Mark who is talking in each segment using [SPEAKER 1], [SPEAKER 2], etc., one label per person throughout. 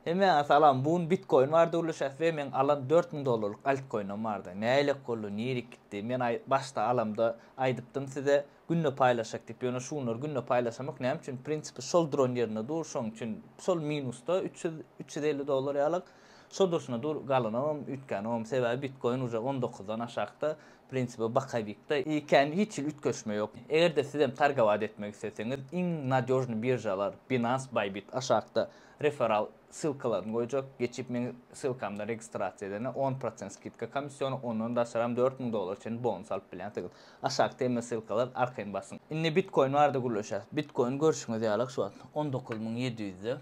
[SPEAKER 1] Hemmäňe salam bu gün bitkoin bardy ulyşas we meň alan dört müň dollarlyk altkoinim bardy näylek boldy nirik gitdi men aý başda alamda aýdypdym size günde paýlaşjak diýip ýöne şu günler günde paýlaşamok näme üçin prinsipi şol duran ýerinde dur şoň üçin şol minusda üç ýüz üç ýüz elli dollar ýalyk şo durşuna dur galanam üýtgänemem sebäbi bitkoin uje on dokuzdan aşakda prinsipi bokovikda ekän hiç hili üýtgeşme ýok egerde sizem targowat etmek isleseňiz iň nadýožnyý biržalar binance bybit aşakda. Referral ssylkalaryny goýjak. Geçip meň ssylkamdan registrasiýa edende on prosent skidka komissiony, ondan daşaram dört müň dollara çenli bonus alyp bilýänsigiz. Aşakda hemme ssylkalar arkaýyn basyň. Indi bitkoin barada gürleşýäs. Bitkoin görşüňiz ýalyk şu wagt on dokuz müň ýedi ýüzde.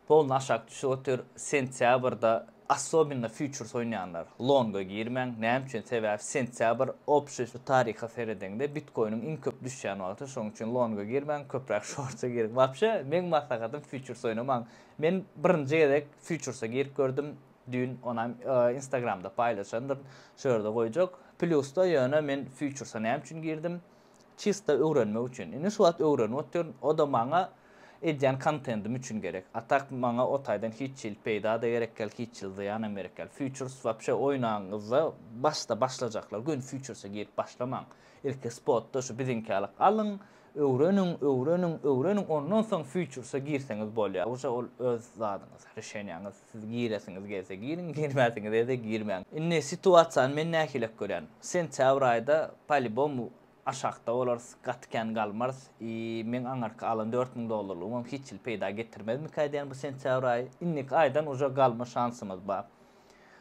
[SPEAKER 1] Polny aşak düşüp otyr. Sentýabrda Assobinno fýuçers oýnaýanlar, longa girmäň, näme üçin sebäbi sentýabr opşi şu taryha seredeňde bitkoiniň iň köp düşýän wagty şoň üçin longa girmäň köpräk şorta giriň wapşe meň maslahatym fýuçers oýnamaň men birinji gezek fýuçersa girip gördüm düýn onam instagramda paýlaşandyryn şu ýerde goýjak plýusda ýöne men fýuçersa näme üçin girdim Çysta öwrenmek üçin. Indi şu wagt öwrenip otyryn. O-da maňa edýän kontentim üçin gerek. A tak maňa o taýdan hiç hili peýda-da gerek däl, hiç hili zyýanam gerek däl. Fýuçers wapşe oýnagyňyzda başda başlajaklar göni fýuçerse girip başlamaň. Ilki spotda şu biziňkälik alyň, öwreniň, öwreniň, öwreniň, ondan soň fýuçerse girseňiz bolýar. Uje ol öz zadyňyz, rişeniýaňyz. Siz giresiňiz gelse giriň, girmäsiňiz else girmäň. Indi situasiýany men nähilek görýän. Sentýabr aýda polibom aşakda bolarys, gaty kän galmarys i meň aňyrky alan dört müň dollarlygymam hiç hili peýda getirmezmika diýýän bu sentýabr aýy. Indiki aýdan uje galma şansymyz bar.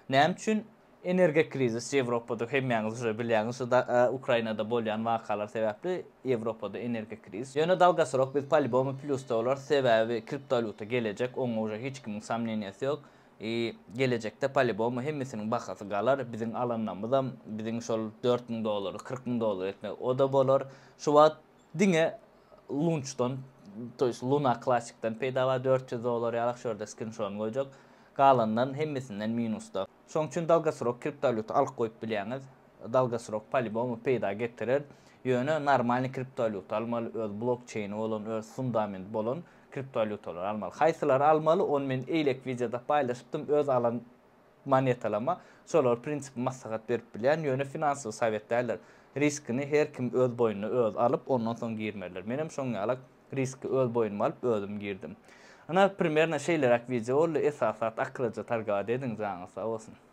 [SPEAKER 1] Näme üçin? Energokrizis Ýewropada hemmäňiz uje bilýäňiz şu da Ukrainada bolýan wakalar sebäpli Ýewropada energokrizis. Ýöne dalgasyrok biz palibomu plýusda bolarys sebäbi kriptowalýuta gelejek oňa uje hiç kimiň somneniýasy ýok i gelejekde palibomu hemmesiniň bahasy galar biziň alanlamyzam biziň şol dört müň dollary kyrk müň dollar etmek oda bolar şu wagt Diňe Lunçdan, to ýest Luna Klassikden peýda bar, dört ýüz dollar ýalak şu ýerde skrinşodyny goýjak. Galandan hemmesinden minusda. Şoň üçin dalgasrok kriptowalýuta alyp goýup bilýäňiz. Dalgasrok palibomu peýda getirer. Ýöne normalny kriptowalýuta almaly, öz blokçeýni bolan, öz fundament bolan kriptowalýutalary almaly. Haýsylary almaly, ony men eýlek wideoda paýlaşypdym, öz alan Monetalama, şolar prinsipi maslahat berip bilýän, ýöne finansowy sowet däldir. Riskini her kim öz boýnuna öz alyp, ondan soň girmelidir. Menem şoň ýalak riski öz boýnuma alyp özüm girdim. Ynha, primerno şeýleräk wideo boldy, esas zat akylyja targawat ediň, janyňyz sag bolsun.